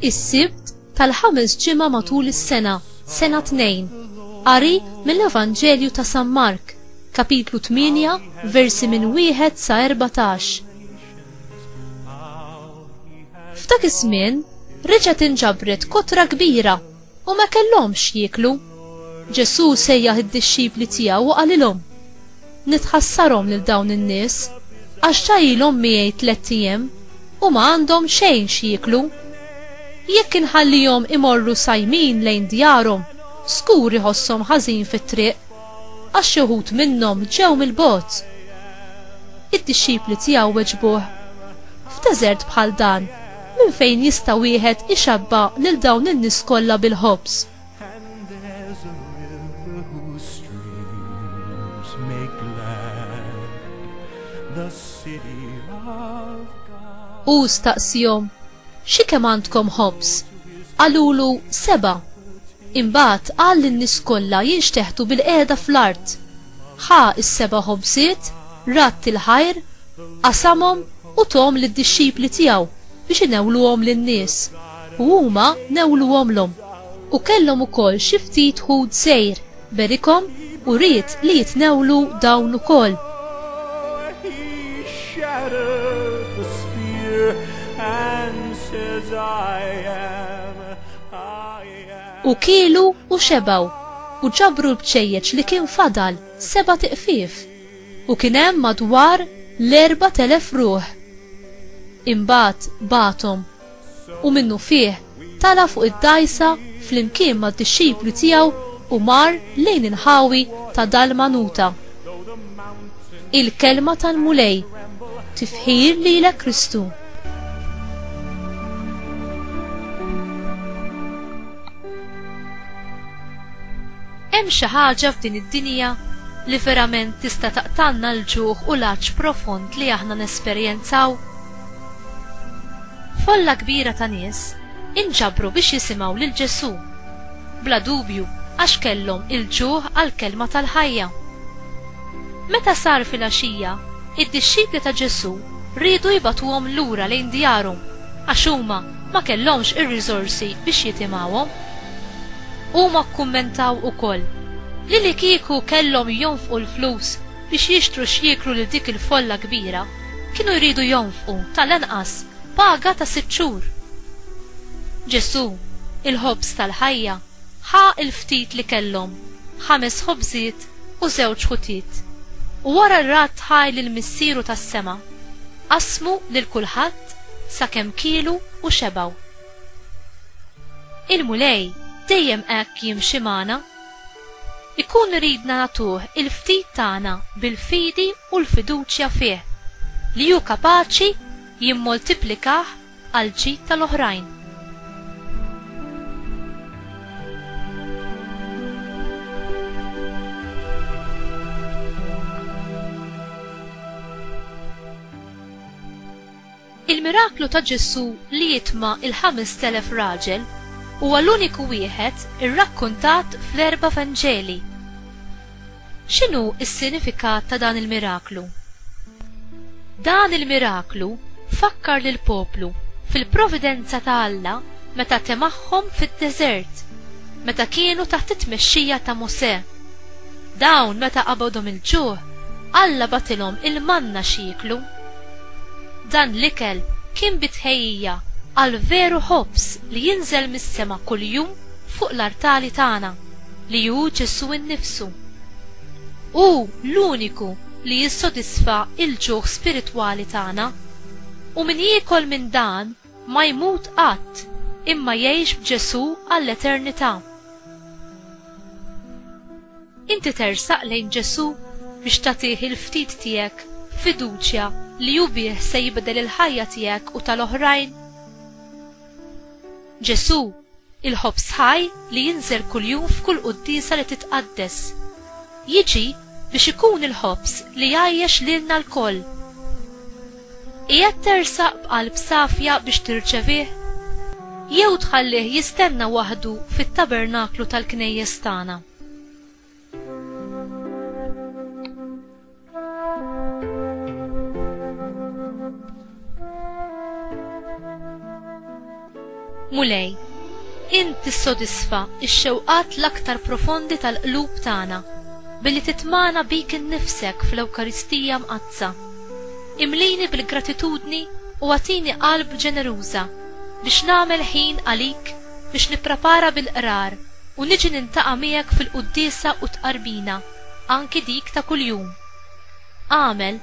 is-sibt tal-ħames ġimgħa matul is-sena, sena tnejn. Qari mill-Evanġelju ta' San Mark, kapitlu 8, versi minn wieħed sa 14. F'dak iż-żmien reġgħet inġabret kotra kbira U ma kellhomx x'jieklu. Ġesù sejjaħ id-dixxipli tiegħu u qalilhom, Nitħassarhom lil dawn in-nies, għax ġa ilhom miegħi tlett ijiem u ma għandhom xejn x'jieklu. Jekk inħallihom imorru sajmin lejn djarhom, żgur iħosshom ħażin fit-triq, għax xi wħud minnhom ġew mill-bogħod. Id-dixxipli tiegħu weġbuh, F'deżert bħal dan, Minn fejn jista' wieħed ixabbha lil dawn in-nies kollha bil-ħobż? Hu staqsihom, Xi kemm għandkom ħobż? Qalulu, Seba'. Imbagħad qal lin-nies kollha jinxteħtu bil-qiegħda fl-art. Ħa s-seba' ħobżiet, radd il-ħajr, qasamhom u thom lid-dixxipli tiegħu biex inewluhom lin-nies, u huma newluhomlhom. U kellhom ukoll xi ftit ħut sgħir, berikhom u ried li jitnewlu dawn ukoll. U kielu u xebgħu, u ġabru l-bċejjeċ li kien fadal, sebat iqfief. u kien hemm madwar l-4,000 ruħ. Imbagħad bagħathom, u minnufih tala' fuq id-dgħajsa flimkien mad-dixxipli tiegħu u mar lejn il-ħawi ta' Dalmanuta. Il-Kelma tal-Mulej, tifħir lilek Kristu. Hemm xi ħaġa f'din id-dinja li verament tista' taqtgħalna l-ġuħ u l-għatx profond li aħna nesperjenzaw? Folla kbira ta' nies inġabru biex jisimgħu lil Ġesù, bla dubju għax kellhom il-ġuħ għall-kelma tal-ħajja. Meta sar filgħaxija, id-dixxipli ta' Ġesù riedu jibagħtuhom lura lejn djarhom għax huma ma kellhomx ir-riżorsi biex jitimgħuhom. Huma kkummentaw ukoll li li kieku kellhom jonfqu l-flus biex jixtru x'jieklu lil dik il-folla kbira, kienu jridu jonfqu tal-anqas paga ta' sitt xhur. Ġesù, il-Ħobż tal-ħajja, ħa l-ftit li kellhom, ħames ħobżiet u żewġ ħutiet, u wara li radd ħaj lil Missieru tas-sema, qassmu lil kulħadd sakemm kielu u xebgħu. Il-Mulej dejjem hekk jimxi magħna. Ikun iridna nagħtuh il-ftit tagħna bil-fidi u l-fiduċja fih li hu kapaċi jimmoltiplikah għall-ġid tal-oħrajn. Il-miraklu ta' Ġesù li jitma' il-ħamest elef raġel huwa l-uniku wieħed irrakkuntat fl-erba' Vanġeli. X'inhu s-sinifikat ta' dan il-miraklu? Dan il-miraklu fakkar lill-poplu fil-providenza ta' Alla meta temagħhom fid-deżert meta kienu taħt it-tmexxija ta' Mosè. Dawn meta qabadhom il-ġuħ, Alla bagħatilhom il-manna x'jieklu. Dan l-ikel kien bi tħejjija għall-veru ħobż li jinżel mis-sema kuljum fuq l-artali tagħna. li hu Ġesù nnifsu. Hu l-uniku li jissodisfa l-ġuħ spiritwali tagħna. U min jiekol minn dan ma jmut qatt imma jgħix b'Ġesù għall-eternità. Inti tersaq lejn Ġesù biex tagħtih il-ftit tiegħek b'fiduċja li hu bih se jibdel il-ħajja tiegħek u tal-oħrajn? Ġesù, il-ħobż ħaj li jinżel kuljum f'kull quddiesa li titqaddes, jiġi biex ikun il-ħobż li jgħajjex lilna lkoll. Qiegħed tersaq b'qalb safja biex tirċevih? Jew tħallih jistenna waħdu fit-tabernaklu tal-knejjes tagħna? Mulej, int tissodisfa x-xewqat l-aktar profondi tal-qlub tagħna billi titmagħna bik innifsek fl-Ewkaristija Mqaddsa. Imlini bil-gratitudni u agħtini qalb ġeneruża biex nagħmel ħin għalik biex nipprepara bil-Qrar u niġi nintaqa' miegħek fil-quddiesa u t-tqarbina, anki dik ta' kuljum. Agħmel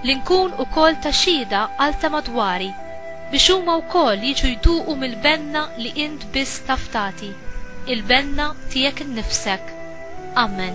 li nkun ukoll ta' xhieda għal ta' madwari biex huma wkoll jiġu jduqu mill-benna li int biss taf tagħti, il-benna tiegħek innifsek. Amen.